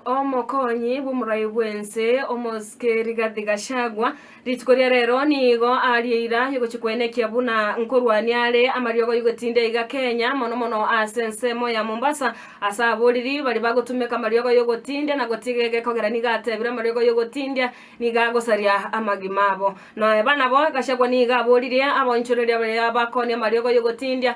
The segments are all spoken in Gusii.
Omokonyi bw'omorai bw'ense, omosike Rigathi Gachagua, rituko ria rero nigo aria eira yogochia koenekia buna nkorwania are amariogo yogotinda iga Kenya, mono mono ase ensemo ya Mombasa, ase aboriri baria bagotumeka amariogo yogotindia na gotiga ege ekogera nigo atebire amariogo yogotindia nigo agosaria amagima abo. Noe banabo, Gachagua nigo aboririe aboinchoreria baria bakooni amariogo yogotindia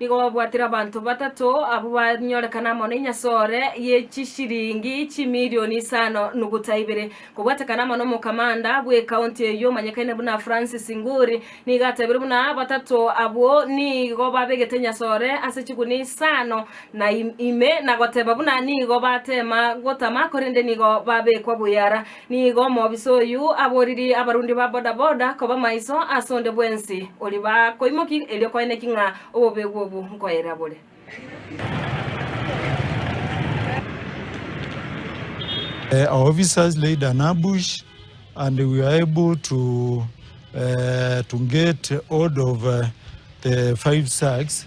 Nigo babwatire abanto batato abwo banyorekana amo nenyasore ye chisiringi chimilioni isano nuguta ibere. Kobwatekana amo nomokamanda bw'ekaunti eyio omanyekane buna Francis Nguri, nigo atebire buna batato abwo nigo babegete enyasore ase chigunia isano na ime, na goteba buna nigo batema gotama korende nigo babekwa buya ara. Nigo omobisa oyio aboririe abarundi ba bodaboda koba maiso ase onde bwensi oria bakoimokia erio koene ki ng'a obobegu obwo nkoyerera bore. Uh, our officers laid an ambush and we were able to uh, to get hold of uh, the five sacks